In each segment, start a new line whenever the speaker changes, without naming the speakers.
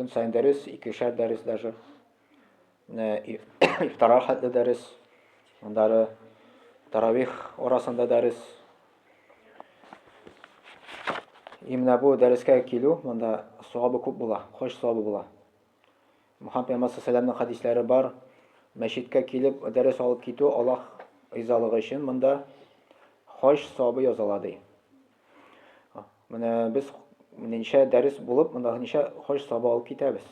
Көн сайын дәрес, икешәр дәрес даже. Ифтара хәтле дәрес. Андары таравих арасында дәрес. Именно бу дәрескә килү, монда савабы күп була, хош савабы була. Мөхәммәд пәйгамбәр сәламның хәдисләре бар. Мәчеткә килеп дәрес алып китү Аллаһ ризалыгы өчен монда хош савабы языла ди. Менә без ничә дәрес булып, монда ничә хош сабы алып китәбез.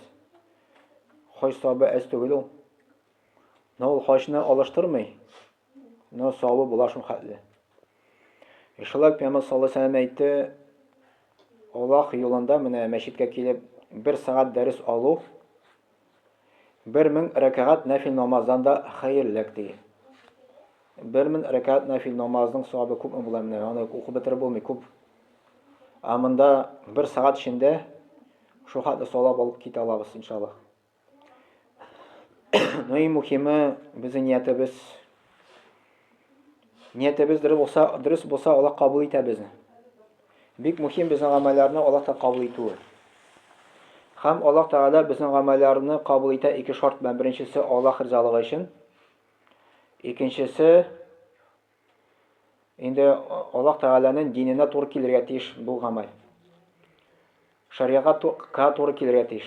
Хош сабы әз түгел ул. Но ул хошны алыштырмый. Но сабы була шул хәтле. Э, шулай Пәйгамбәр саллаллаху алейһи вәсәлләм әйтте, Аллаһ юлында менә мәчеткә килеп бер сәгать дәрес алу Бер мең рәкәгать нәфил намаздан да хәерлерәк, ди. Бер мең рәкәгать нәфил намазның савабы күпме була менә, аны укып бетереп булмый, күп. Ә монда бер сәгать эчендә шул хәтле савап алып китә алабыз, иншаллаһ. Ну и мухиме, безнең ниятебез Ниятебез дөрес булса, дөрес булса, Аллаһ кабул итә безне. Бик мөһим безнең гамәлләрне Аллаһ та кабул итүе. Хәм Аллаһ Тәгалә безнең гамәлләрне кабул итә ике шарт белән. Беренчесе Аллаһ ризалыгы өчен. Икенчесе инде Аллаһ Тәгаләнең диненә туры килергә тиеш бу гамәл. Шәригатька туры килергә тиеш.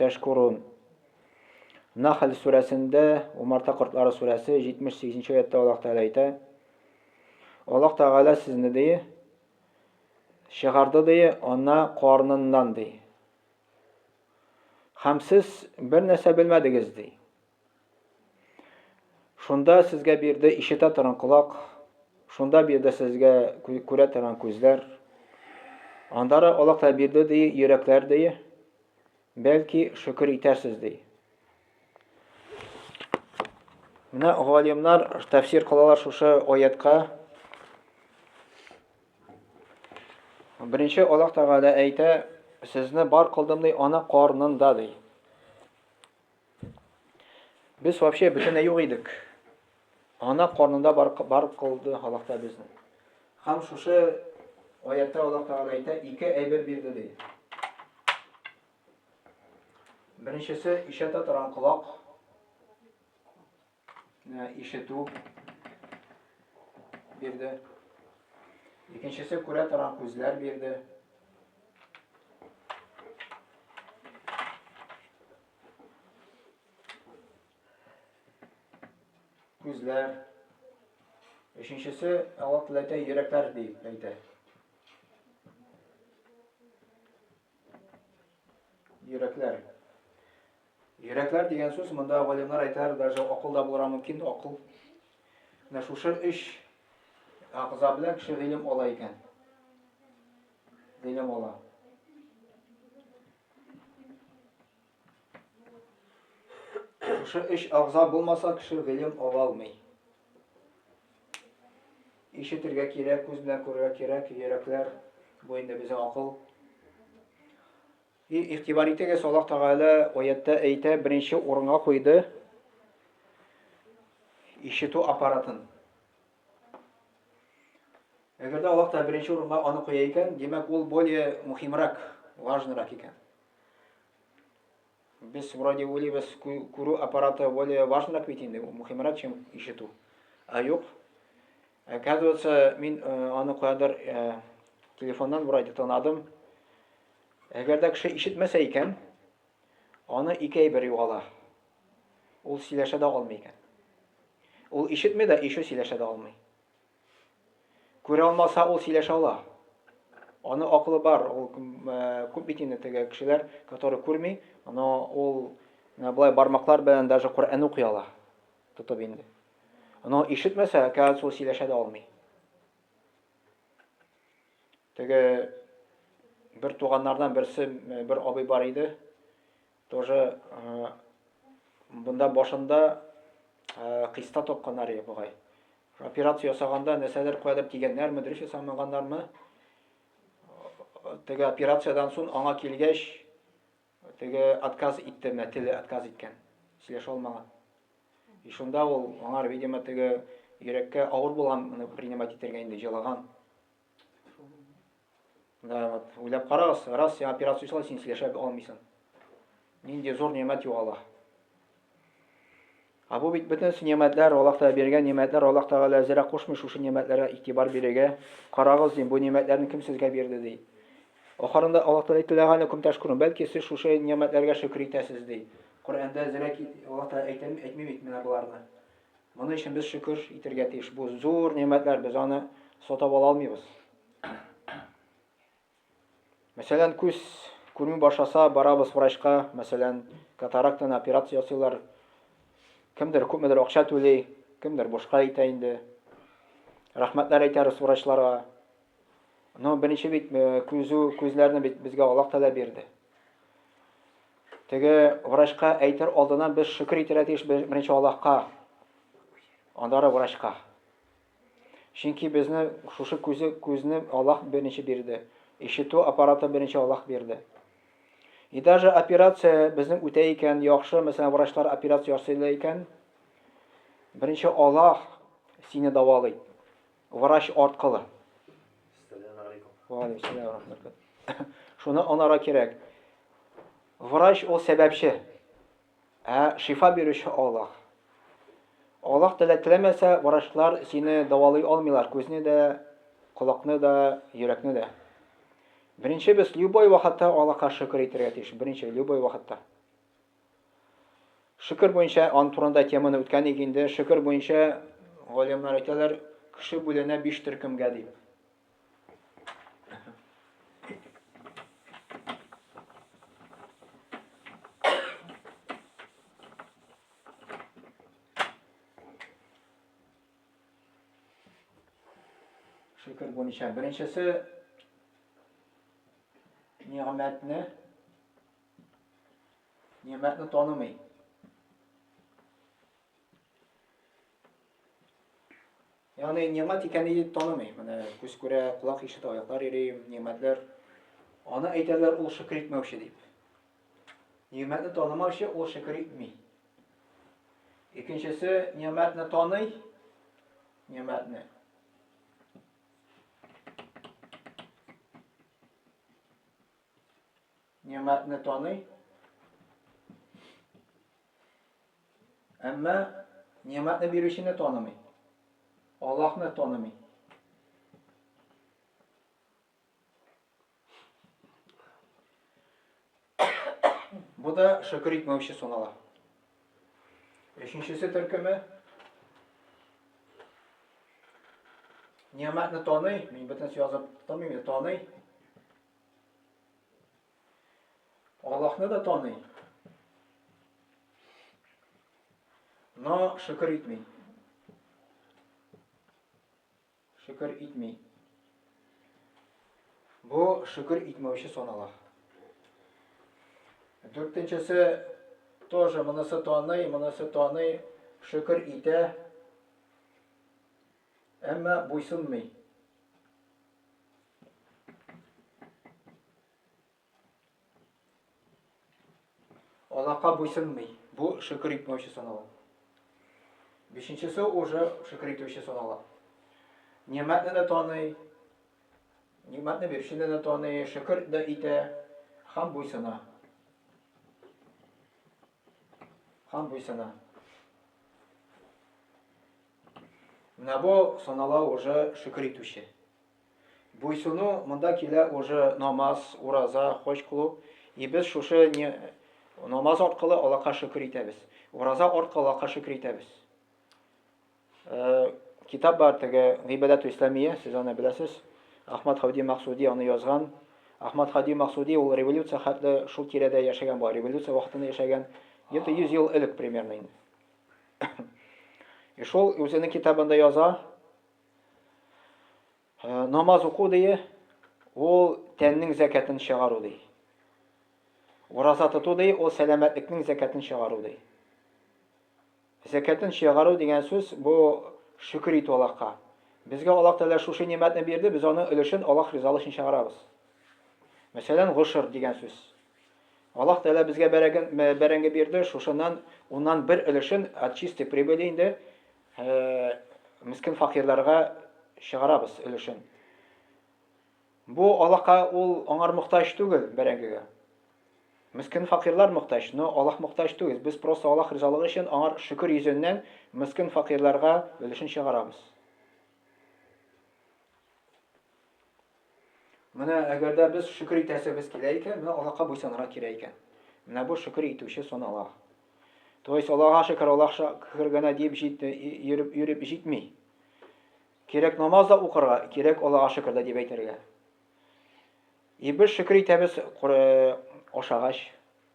Тәшкурун. Нәхл сүрәсендә, Умарта кортлары сүрәсе, 78 нче аятта Аллаһ Тәгалә әйтә, Аллаһ Тәгалә сезне, ди, чыгарды, ди, ана карныннан, ди. Һәм сез бер нәрсә белмәдегез, ди. Шунда сезгә бирде ишетә торган колак, шунда бирде сезгә күрә торган күзләр. Андара Аллаһ бирде ди йөрәкләр ди. Бәлки шөкер итәрсез ди. Менә галимнар тәфсир кылалар шушы аятка. Беренче Аллаһ Тәгалә әйтә, сезне бар кылдым ди ана карнында ди. Без вообще бөтенләй юк идек. Ана карнында бар, бар кылды Аллаһ та безне. Һәм шушы аятта Аллаһ Тәгалә әйтә, ике әйбер бирде ди. Беренчесе ишәтә торган колак. Ә, ишетү бирде. Икенчесе күрә торган күзләр бирде. Күзләр. Өченчесе Алла теләтә йөрәкләр дип әйтә. Йөрәкләр. Йөрәкләр дигән сүз, монда галимнар әйтәләр, даже акыл да булырга мөмкин, акыл. Менә шушы өч агза белән кеше гыйлем ала икән. Гыйлем ала. Шушы өч агза булмаса, кеше гыйлем ала алмый. Ишетергә кирәк, күз белән күрергә кирәк, йөрәкләр, бу инде безнең акыл. И, игътибар итегез, Аллаһ Тәгалә аяттә әйтә, беренче урынга куйды ишетү аппаратын. Әгәр дә Аллаһ Тәгалә беренче урынга аны куя икән, димәк, ул более мухимрак, важнырак икән. Без вроде уйлыйбыз, күрү аппараты более важнырак бит инде, мухимрак, чем ишетү. Ә юк. Оказывается, мин э, аны куядыр э, телефоннан вроде тонадым. Әгәр дә кеше ишетмәсә икән, аны ике әйбер югала. Ул сөйләшә дә алмый икән. Ул ишетми дә, ишу сөйләшә дә алмый. Күрә алмаса, ул сөйләшә ала. Аны акылы бар, ул күп бит инде теге кешеләр, которые күрми, но ул былай бармаклар белән даже Коръән укый ала. Тотып инде. Но ишетмәсә, кәгазь ул сөйләшә дә алмый. Теге бер туганнардан берсе, бер абый бар иде. Тоже бында башында кыйста тапканнар иде бугай. Операция ясаганда нәрсәдер куядыр тигәннәрме, дөрес ясамаганнармы? Теге операциядән соң аңа килгәч, теге отказ итте, менә теле отказ иткән. Сөйләшә алмаган. И шунда ул аңар, видимо, теге йөрәккә авыр булган, моны принимать итәргә инде җылаган. Да, вот, уйлап карагыз, раз син операция ясала, син сөйләшә алмыйсың. Нинди зур нигъмәт югала. А бу бит бөтен нигъмәтләр, Аллаһ Тәгалә биргән нигъмәтләр, Аллаһ Тәгалә зирә кушмый шушы нигъмәтләргә игътибар бирергә. Карагыз, дим, бу нигъмәтләрне кем сезгә бирде, ди. Ахырында Аллаһ Тәгалә әйтелгән укым ташкурын, бәлки сез шушы нигъмәтләргә шөкер итәсез, ди. Коръәндә зирә Аллаһ Тәгалә әйтәме, әйтми бит менә буларны. Моны өчен без шөкер итергә тиеш. Бу зур нигъмәтләр, без аны сатап ала алмыйбыз. Мәсәлән, күз күрми башласа, барабыз врачка, мәсәлән, катарактаны операция ясыйлар. Кемдер күпмедер акча түли, кемдер бушка итә инде. Рәхмәтләр әйтәбез врачларга. Но беренче бит э, күзү, күзләрне бит безгә Аллаһ Тәгалә бирде. Теге врачка әйтер алдынан без шөкер итәргә тиеш беренче Аллаһка. Аннары врачка. Чөнки безне шушы күзе күзне Аллаһ беренче бирде. Ишетү аппараты беренче Аллаһ бирде. И даже операция безнең үтә икән, яхшы, мәсәлән, врачлар операция ясыйлар икән, беренче Аллаһ сине давалый. Врач арткылы. Шуны анара кирәк. Врач ул сәбәпче. Ә шифа бирүче Аллаһ. Аллаһ теләк теләмәсә, врачлар сине давалый алмыйлар, күзне дә, колакны да, йөрәкне дә. Беренче без любой вакытта Аллаһка шөкер итәргә тиеш, беренче любой вакытта. Шөкер буенча, аны турында теманы үткән идек инде. Шөкер буенча, галимнар әйтәләр, кеше бүленә биш төркемгә дип. Шөкер буенча, беренчесе нигъмәтне Нигъмәтне танымый. Ягъни нигъмәт икәнен дип танымый. Менә күз күрә, колак ишетә, аяклар йөри, нигъмәтләр. Аны әйтәләр ул шөкер итмәүче дип. Нигъмәтне танымаучы ул шөкер итми. Икенчесе нигъмәтне таный, нигъмәтне. Нигъмәтне таный. Әмма нигъмәтне бирүчене танымый. Аллаһны танымый. Бу да шөкер итмәүче санала. Өченчесе төркеме Нигъмәтне таный, мин бөтенесе язып тормыйм, таный. Аллаһны да таный. Но шөкер итми. Шөкер итми. Бу шөкер итмәүче санала. Дүртенчесе тоже монысы таный, монысы таный, шөкер итә. Әмма буйсынмый. Алакка буйсынмый. Бу шөкер итмәүче санала. Бишенчесе уже шөкер итүче санала. Нимәтне дә таный, нимәтне бирүчене дә таный, шөкер дә итә һәм буйсына. Һәм буйсына. Менә бу санала уже шөкер итүче. Буйсыну монда килә уже намаз, ураза, хоч кылу. И без шушы не намаз аркылы Аллаһка шөкер итәбез. Ураза аркылы Аллаһка шөкер итәбез. Китап бар теге Гыйбадәтү Исламия, сез аны беләсез. Ахмад Хавди Максуди аны язган. Ахмад Хавди Максуди ул революция хәтле шул тирәдә яшәгән була. Революция вакытында яшәгән. Где-то 100 ел элек примерно инде. И шул үзенең китабында яза, Намаз уку дие, ул тәннең зәкәтен чыгару ди. Ураза тоту ди, ул сәламәтлекнең зәкәтен чыгару ди. Зәкәтен чыгару дигән сүз бу шөкер итү Аллаһка. Безгә Аллаһ Тәгалә шушы нимәтне бирде, без аның өлешен Аллаһ ризалыгы өчен чыгарабыз. Мәсәлән, гошр дигән сүз. Аллаһ Тәгалә безгә бәрәген бәрәңге бирде, шушыннан уннан бер өлешен от чистой прибыли инде Мескен факирларга чыгарабыз өлешен. Бу Аллаһка ул аңар мохтаҗ түгел, бәрәңгегә. Мескен факирлар мохтаҗ, но Аллаһ мохтаҗ түгел. Без просто Аллаһ ризалыгы өчен аңар шөкер йөзеннән мескен факирларга өлешен чыгарабыз. Менә әгәр дә без шөкер итәсебез килә икән, менә Аллаһка буйсынырга кирәк икән. Менә бу шөкер итүче санала. То есть Аллаһка шөкер, Аллаһ шөкер генә дип җитми, йөреп йөреп җитми. Кирәк намаз да укырга, кирәк Аллаһка шөкер дә дип әйтергә. И без шөкер итәбез ашагач,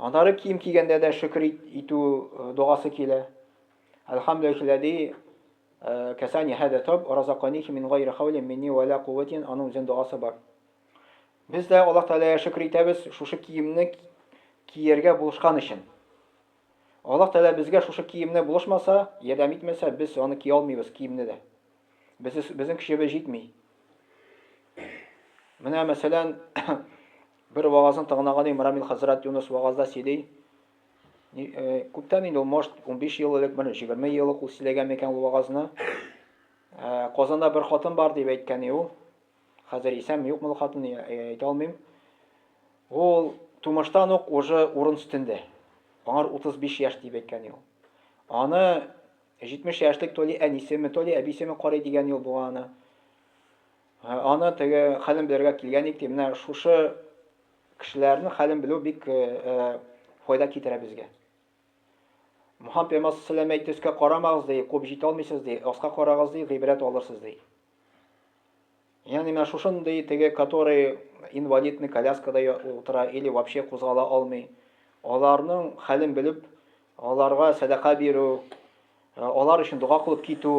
Аннары кием кигәндә дә шөкер итү догасы килә. Әлхәмдүлилләзи кәсани һәдә тәүб, уразаканихи мин гайре хәүлин минни вә лә кувәтин, аның үзен догасы бар. Без дә Аллаһ Тәгаләгә шөкер итәбез шушы киемне кияргә булышкан өчен. Аллаһ Тәгалә безгә шушы киемне булышмаса, ярдәм итмәсә, без аны кия алмыйбыз, киемне дә. Без, безнең көчебез җитми. Менә мәсәлән, Бер вагазын тыңлаган идем, Рамил хәзрәт Юныс вагазда сөйли, күптән инде ул, может, унбиш ел элек, бер җигерме ел ук ул сөйләгән микән ул вагазны. Казанда бер хатын бар дип әйткән иде ул. Хәзер исәнме, юкмы ул хатын, әйтә алмыйм. Ул тумыштан ук уже урын өстендә. Аңар 35 яшь дип әйткән иде ул. Аны 70 яшьлек то ли әнисеме, то ли әбисеме карый дигән ел булган аны. Аны теге хәлен белергә килгән ик, ди. Менә шушы кешеләрнең хәлен белү бик файда китерә безгә. Мухаммад пәйгамбәр салләлләһу әйтте, өскә карамагыз ди, куып җитә алмыйсыз ди, аска карагыз ди, гыйбрәт алырсыз ди. Ягъни менә шушындый теге, который инвалидный коляскада утыра или вообще кузгала алмый, аларның хәлен белеп, аларга сәдака бирү, Алар өчен дога кылып китү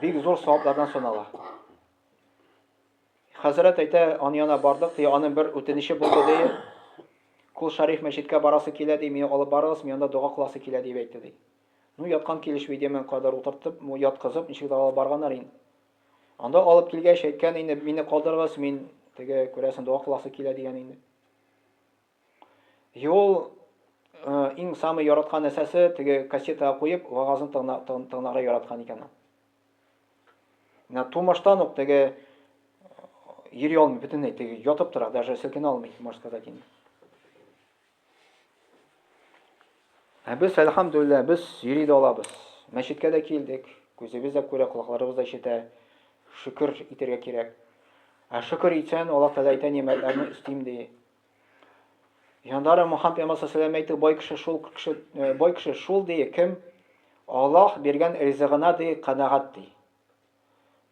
бик зур саваплардан санала. Хәзрәт әйтә, аны яна бардык, ди, аның бер үтенече булды, ди. Кул Шариф мәчеткә барасы килә, ди, мине алып барыгыз, мин анда дога кыласы килә, дип әйтте, ди. Ну, яткан килешми, ди, мең кадәр утыртып, яткызып, ничек дә алып барганнар инде. Анда алып килгәч, әйткән инде, мине калдырыгыз, мин теге, күрәсең, дога кыласы килә, дигән инде. Юл иң самый яраткан нәрсәсе теге кассетага куеп вагазын тыңларга яраткан икән ул. Менә тумыштан ук теге йөри алмый бөтенләй, теге ятып тора, даже селкенә алмый, можно сказать инде. Ә без, әлхәмдүлилләһ, без йөри дә алабыз. Мәчеткә дә килдек, күзебез дә күрә, колакларыбыз да ишетә. Шөкер итәргә кирәк. Ә шөкер итсәң, Аллаһ Тәгалә әйтә, нимәтләрне өстим ди. Яндары Мухаммад пәйгамбәр сәлам әйтте, бай кеше шул кеше, э, бай кеше шул ди, кем Аллаһ биргән ризыгына ди канагат ди.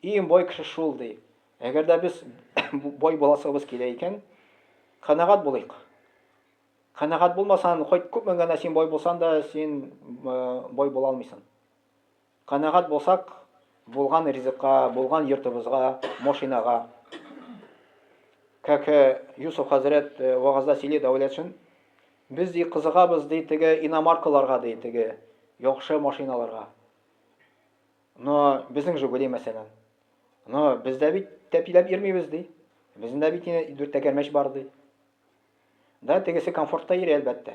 Иң бай кеше шул ди. Әгәр дә без бай буласыбыз килә икән, канагат булыйк. Канагат булмасаң, хоть күпме генә син бай булсаң да, син э, бай була алмыйсың. Канәгать булсак, булган ризыкка, булган йортыбызга, машинага. Как Юсуф хәзрәт вагазда сөйли Дәүләтшин, без ди кызыгабыз ди теге иномаркаларга ди, теге яхшы машиналарга. Но безнең Жигули мәсәлән. Но без дә бит тәпиләп йөрмибез ди. Безнең дә бит дүрт тәгәрмәч бар ди. Да, тегесе комфортта йөри, әлбәттә.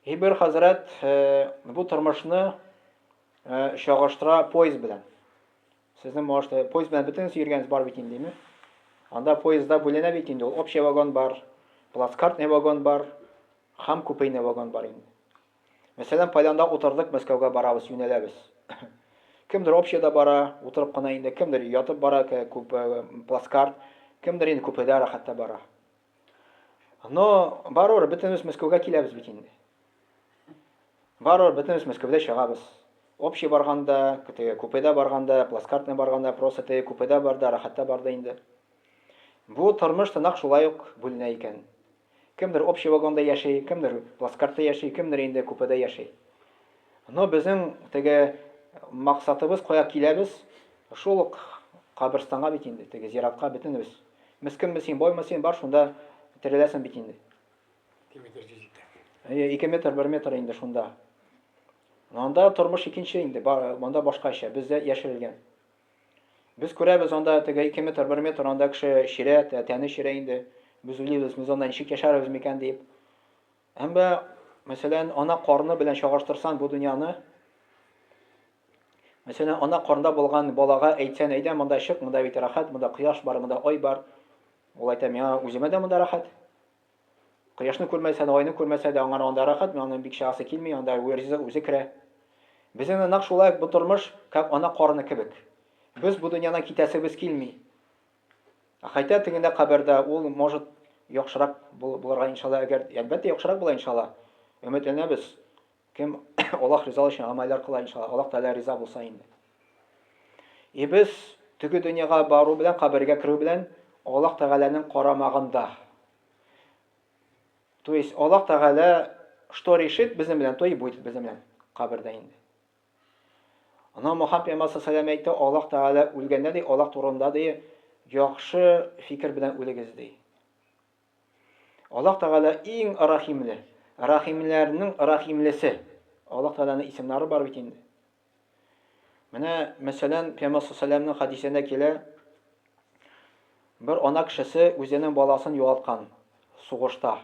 И бер хәзрәт бу тормышны чагыштыра поезд белән. Сезнең может поезд белән бөтенесе йөргәнегез бар бит инде, Анда поездда бүленә бит инде ул. Общий вагон бар, плацкартный вагон бар, хам купейный вагон бар инде. Мәсәлән, кайдан да утырдык, Мәскәүгә барабыз, юнәләбез. Кемдер общеда бара, утырып кына инде, кемдер ятып бара, күп плацкарт, кемдер инде күпредә рәхәттә бара. Но барыбер бөтенебез Мәскәүгә киләбез бит инде. Барыбер бөтенебез Мәскәүдә чыгабыз. Общий барганда, теге купеда барганда, плацкартный барганда, просто теге купеда барда, рәхәттә барда инде. Бу тормыш та нәкъ шулай ук бүленә икән. Кемдер общий вагонда яши, кемдер плацкартта яши, кемдер инде купеда яши. Но безнең теге максатыбыз, кая киләбез, шул ук каберстанга бит инде, теге зиратка бөтенебез. Мескенме син, боймы син, бар шунда тереләсең бит инде. Ике метр җир җитәк. Әйе, ике метр, бер метр инде шунда. Анда тормыш икенче инде, монда башкача, бездә яшерелгән. Без күрәбез, анда теге ике метр, бер метр, анда кеше чирә, тәне чирә инде. Без уйлыйбыз, без анда ничек яшәрбез микән дип. Әмма, мәсәлән, ана карны белән чагыштырсаң бу дөньяны, мәсәлән, ана карында булган балага әйтсән, әйдә монда чык, монда бит рәхәт, монда кояш бар, монда ай бар. Ул әйтә, миңа үземә дә монда рәхәт. Кояшны күрмәсә дә, айны күрмәсә дә, аңар анда рәхәт, миңа аны бик чыгасы килми, анда ризык үзе керә. Безнең дә нәкъ шулай ук бу тормыш, как ана карыны кебек. Без бу дөньядан китәсебез килми. Ә хәйтә тегендә кабердә ул, может, яхшырак булырга иншалла, әгәр, әлбәттә, яхшырак була иншалла. Өметләнәбез. Кем Аллаһ ризалыгы өчен гамәлләр кыла, иншалла, Аллаһ Тәгалә риза булса инде. И без теге дөньяга бару белән, кабергә керү белән Аллаһ Тәгаләнең карамагында. То есть Аллаһ Тәгалә что решит безнең белән, то и будет безнең белән кабердә инде. Ана Мухаммад пәйгамбәр саллаллаху әйтте, Аллаһ Тәгалә үлгәндә ди, Аллаһ турында ди, яхшы фикер белән үлегез ди. Аллаһ Тәгалә иң рәхимле, рәхимләрнең рәхимлесе. Аллаһ Тәгаләнең исемнары бар бит инде. Менә, мәсәлән, Пәйгамбәр салләлләһу хәдисендә килә, бер ана кешесе үзенең баласын югалткан сугышта,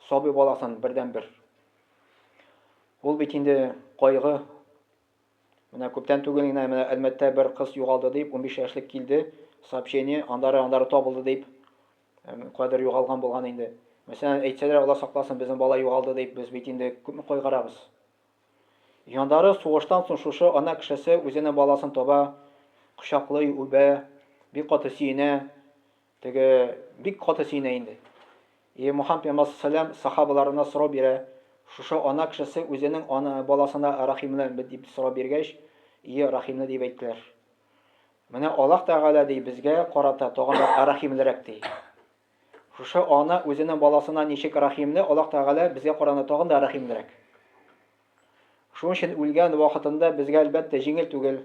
сабый баласын бердәнбер. Ул бит инде кайгы. Менә күптән түгел генә менә Әлмәттә бер кыз югалды дип, 15 яшьлек килде, сообщение, андары-андары табылды дип, Кадер югалган булган инде. Мәсәлән, әйтсәләр, Алла сакласын, безнең бала югалды дип, без бит инде күпме кайгырабыз. Яннары сугыштан соң шушы ана кешесе үзенең баласын таба, кочаклый, үбә, бик каты сөенә, теге бик каты сөенә инде. И Мухаммад пәйгамбәр саллям сахабаларына сорау бирә, шушы ана кешесе үзенең ана баласына рәхимле дип сорау биргәч, и рәхимле дип әйттеләр. Менә Аллаһ Тәгалә, ди, безгә карата тагын да рәхимлерәк, ди. Шушы ана үзенең баласына ничек рәхимле, Аллаһ Тәгалә безгә караганда тагын да рәхимлерәк. Шуның өчен үлгән вакытында безгә, әлбәттә, җиңел түгел.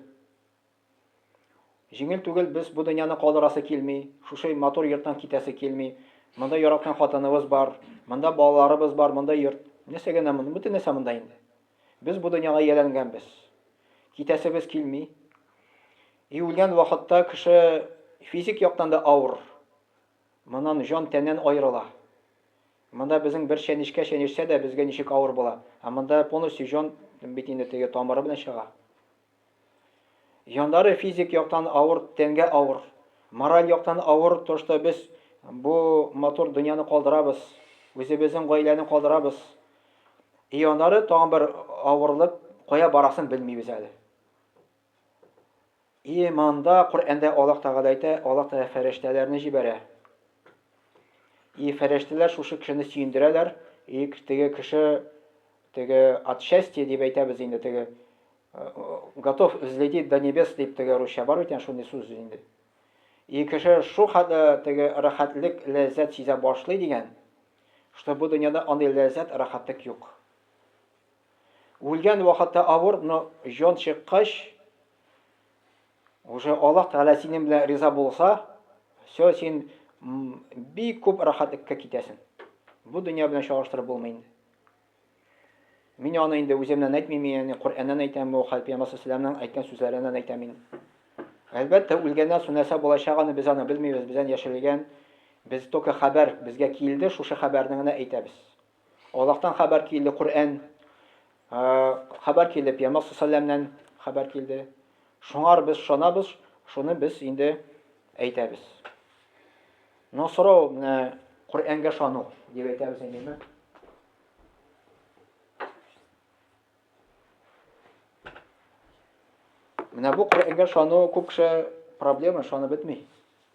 Җиңел түгел, без бу дөньяны калдырасы килми, шушы матур йорттан китәсе килми. Монда яраткан хатыныбыз бар, монда балаларыбыз бар, монда йорт. Нәрсәгә генә монда? Бөтен нәрсә монда инде. Без бу дөньяга ияләнгәнбез. Китәсебез килми. И үлгән вакытта кеше физик яктан да авыр. Моннан җан тәннән аерыла. Монда безнең бер чәнечкә чәнечсә дә безгә ничек авыр була. Ә монда полностью җан бит инде теге тамыры белән чыга. Җаннары физик яктан авыр, тәнгә авыр, мораль яктан авыр торышта без бу матур дөньяны калдырабыз, үзебезнең гаиләне калдырабыз. И аннары тагын бер авырлык, кая барасын белмибез әле. И монда Коръәндә Аллаһ Тәгалә әйтә, Аллаһ Тәгалә фәрештәләрне җибәрә. И фәрештәләр шушы кешене сөендерәләр, и теге кеше Теге от счастья дип әйтәбез инде теге готов взлететь до небес дип теге русча бар бит янә шундый сүз инде. И кеше шу хәтле теге рәхәтлек, ләззәт сизә башлый дигән, что бу дөньяда андый ләззәт, рәхәтлек юк. Үлгән вакытта авыр, но җан чыккач, уже Аллаһ Тәгалә синең белән риза булса, все син бик күп рәхәтлеккә китәсең. Бу дөнья белән чагыштырып булмый инде. Мин аны инде үземнән әйтмим, ягъни Коръәннән әйтәм, бу хәл пәйгамбәр салләһу әйткән сүзләреннән әйтәм мин. Әлбәттә, үлгәннән соң нәрсә булачак аны без аны белмибез, бездән яшерелгән. Без только хәбәр безгә килде, шушы хәбәрне генә әйтәбез. Аллаһтан хәбәр килде, Коръән, хәбәр килде пәйгамбәр салләһу хәбәр килде. Шуңар без шанабыз, шуны без инде әйтәбез. Но сорау менә Коръәнгә ышану дип әйтәбез инде. Менә бу Коръәнгә ышану күп кеше проблема, ышанып бетми.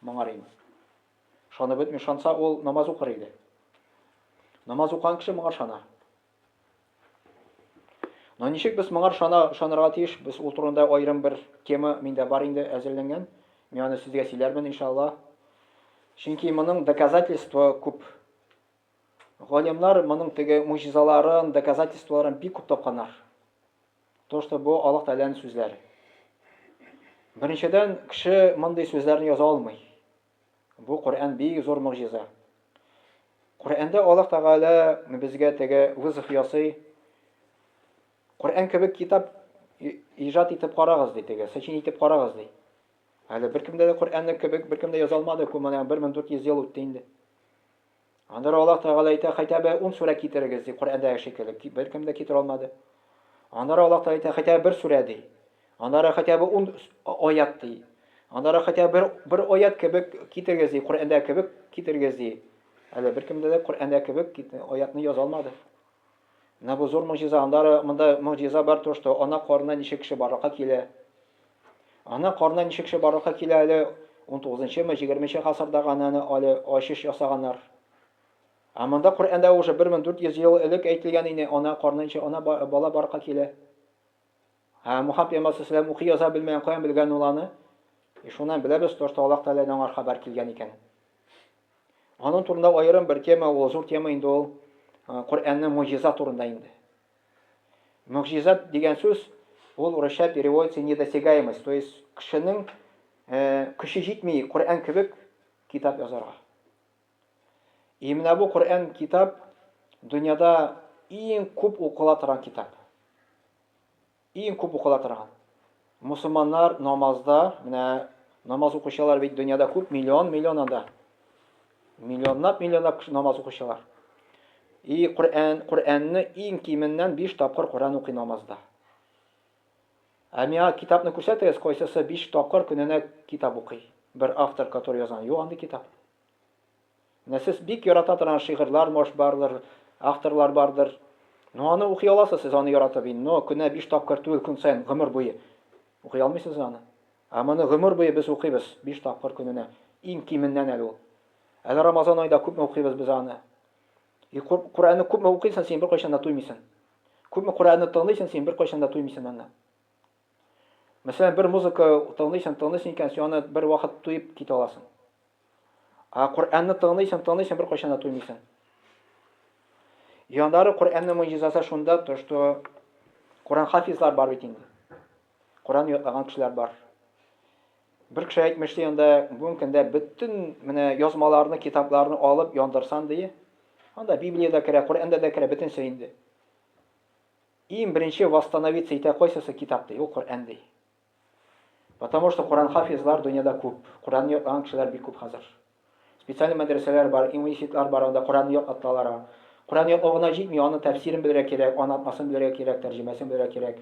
Моңар инде. Ышанып бетми, ышанса ул намаз укыр иде. Намаз укыган кеше моңа ышана. Но ничек без моңар шана, шанырга тиеш? Без ул турында аерым бер тема миндә бар инде әзерләнгән. Мин аны сезгә сөйләрмен, иншалла. Чөнки моның доказательство күп. Галимнар моның теге мужизаларын, доказательстволарын бик күп тапканнар. То, что бу Аллаһ Тәгаләнең сүзләре. Беренчедән, кеше мондый сүзләрне яза алмый. Бу Коръән бик зур могҗиза. Коръәндә Аллаһ Тәгалә безгә теге вызов ясый. Коръән кебек китап иҗат итеп карагыз ди теге, сочинить итеп карагыз ди. Әле беркемдә дә Коръәнне кебек беркемдә яза алмады, күп менә 1400 ел үтте инде. Анда да Аллаһ Тәгалә әйтә, Хәйтә бе ун сүрә китерегез, ди, Коръәндәге шикелле. Беркем дә китерә алмады. Анда да Аллаһ Тәгалә әйтә, Хәйтә бе бер сүрә, ди. Анда да Хәйтә бе ун аят, ди. Анда да Хәйтә бе бер аят кебек китерегез, ди, Коръәндәге кебек китерегез, ди. Әле беркем дә дә Коръәндәге кебек аятны яза алмады. Менә бу зур могҗиза, аннары монда могҗиза бар то, что ана карынына ничек кеше барлыкка килә. Ана карынына ничек кеше барлыкка килә әле унтугызынчымы, җигерменче гасырдагы ананы але ачыш ясаганнар. Ә монда Коръәндә уже бер мең дүрт йөз ел элек әйтелгән ине, ана карынына ничек ана бала барлыкка килә. Ә Мухаммад пәйгамбәр салләллаһу укый яза белмәгән, каян белгән ул аны? И шуннан беләбез, то, что Аллаһ Тәгаләдән аңар хәбәр килгән икән. Аның турында аерым бер тема, ул зур тема инде ул Коръәннең муҗиза турында инде. Муҗиза дигән сүз ул урысча переводится недосягаемость, то есть кешенең көче җитми Коръән кебек китап язарга. И менә бу Коръән китап дөньяда иң күп укыла торган китап. Иң күп укыла торган. Мусулманнар намазда, менә намаз укучылар бит дөньяда күп, миллион миллион анда. Миллионлап миллионлап кеше намаз укучылар. И Коръән, Коръәнне иң кименнән 5 тапкыр Коръән укый намазда. Ә миңа китапны күрсәтегез, кайсысы биш тапкыр көненә китап укый? Бер автор, который язган. Юк андый китап. Нәсес бик ярата торган шигырьләр мош бардыр, авторлар бардыр. Но аны укый аласыз сез аны яратып ин, но көнә биш тапкыр түгел көн саен гомер буе укый алмыйсыз аны. Ә моны гомер буе без укыйбыз, биш тапкыр көненә, иң кименнән әле ул. Әле Рамазан айда күпме укыйбыз без аны. И Кур, Куранны күпме укыйсын син беркайчан да туймыйсын. Күпме Куранны тыңлыйсын син беркайчан да туймыйсын аны. Мәсәлән, бер музыка тыңлыйсың, тыңлыйсың икән, син аны бервакыт туеп китә аласың. Ә Коръәнне тыңлыйсың, тыңлыйсың, беркайчан да туймыйсың. Яннары Коръәннең мөҗизасы шунда, то что Коръән хафизлар бар бит инде. Коръән ятлаган кешеләр бар. Бер кеше әйтмешли анда бүгенге көндә бөтен менә язмаларны, китапларны алып яндырсан ди. Анда Библия дә керә, Коръән дә керә, бөтенсе инде. Иң беренче восстановиться итә кайсысы китап ди, ул Коръән ди. Потому что Коръән хафизлар дөньяда күп, Коръәнне ятлаган кешеләр бик күп хәзер. Специальный мәдрәсәләр бар, имуниситлар бар, анда Коръәнне ятлаталар. Коръән ятлау гына җитми, аның тәфсирен белергә кирәк, анатмасын белергә кирәк, тәрҗемәсен белергә кирәк.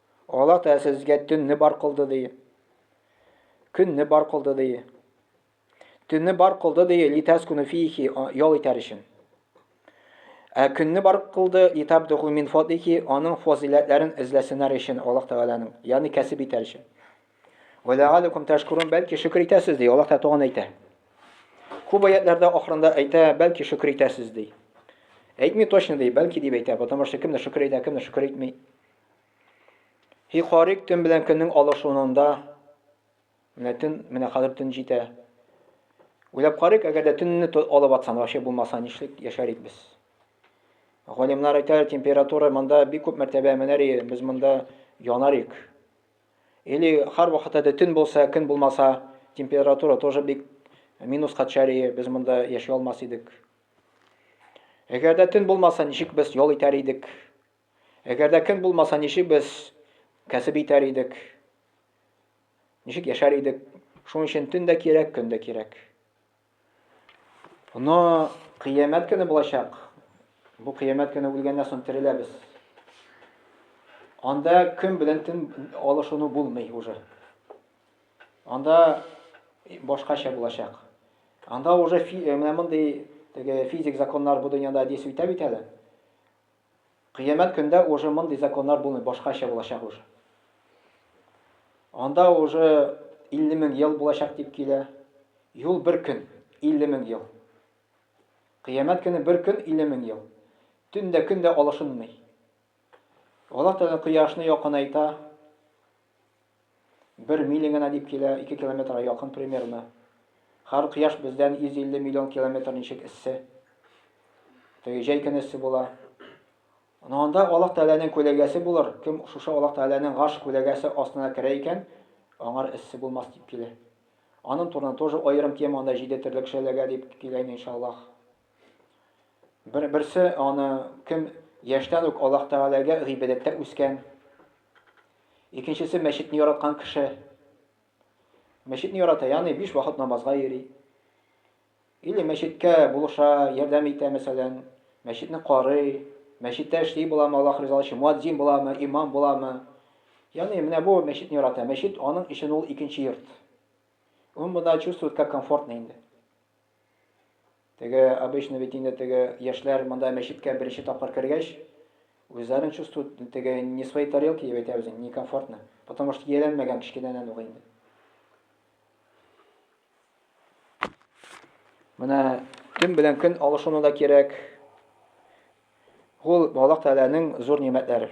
Аллаһ Тәгалә сезгә төнне бар кылды ди. Көнне бар кылды ди. Төнне бар кылды ди, литәскуну фихи, ял итәр өчен. Ә көнне бар кылды, литабдуху мин фадлихи, аның фазиләтләрен эзләсеннәр өчен Аллаһ Тәгаләнең, ягъни кәсеп итәр өчен. Ва ләгаликум тәшкурун, бәлки шөкер итәсез ди, Аллаһ Тәгалә туган әйтә. Күп аятларда ахырында әйтә, бәлки шөкер итәсез ди. Әйтми точно ди, бәлки дип әйтә, потому что кемдер шөкер итә, кемдер шөкер итми. Хихорик төн белән көннең алышынында менә төн, менә хәзер төн җитә. Уйлап карыйк, әгәр дә төнне алып атсам, вообще булмаса, нишлик яшәр идек без? Галимнар әйтә, температура монда бик күп мәртәбә менәр иде, без монда янар идек. Или һәр вакытта да төн булса, көн булмаса, температура тоже бик минуска төшәр иде, без монда яши алмас идек. Әгәр дә төн булмаса, ничек без ял итәр идек? Әгәр дә көн булмаса, ничек без кәсеп итәр идек? Ничек яшәр идек? Шуның өчен төн дә кирәк, көн дә кирәк. Но кыямәт көне булачак. Бу кыямәт көне үлгәннән соң тереләбез. Анда көн белән төн алышуны булмый уже. Анда башкача булачак. Анда уже менә мондый теге физик законнар бу дөньяда дисүйтә бит әле. Кыямәт көндә уже мондый законнар булмый, башкача булачак уже. Анда уже 50 мең ел булачак дип килә. Юл бер көн, 50 мең ел. Кыямәт көне бер көн, 50 мең ел. Төн дә, көн дә алышынмый. Аллаһ Тәгалә кояшны якынайта. Бер миля генә дип килә, ике километрга якын примерно. Хәр кояш бездән 150 миллион километр ничек эссе. Теге җәй көне эссе була. Ну анда Аллаһ Тәгаләнең күләгәсе булыр, кем шушы Аллаһ Тәгаләнең гарш күләгәсе астына керә икән, аңар эссе булмас дип килә. Анын турында тоже аерым тема, анда җиде терлек шәләгә дип килә инде иншаллаһ. Бер берсе аны кем яшьтән үк Аллаһ Тәгаләгә гыйбадәттә үскән. Икенчесе мәчетне яраткан кеше. Мәчетне ярата, ягъни биш вакыт намазга йөри. Или мәчеткә булыша, ярдәм итә, мәсәлән, мәчетне карый, мәчеттә эшли буламы, Аллаһ ризалыгы өчен муадзин буламы, имам буламы? Ягъни менә бу мәчетне ярата. Мәчет аның өчен ул икенче йорт. Он бунда чувствует как комфортно инде. Теге, обычно бит инде теге яшьләр монда мәчеткә беренче тапкыр кергәч, үзләрен чувствуют теге не свои тарелки дип әйтәбез инде, некомфортно. Потому что ияләнмәгән кечкенәдән ук инде. Менә көн белән көн алышуны да кирәк. Ул Аллаһ Тәгаләнең зур нигъмәтләре.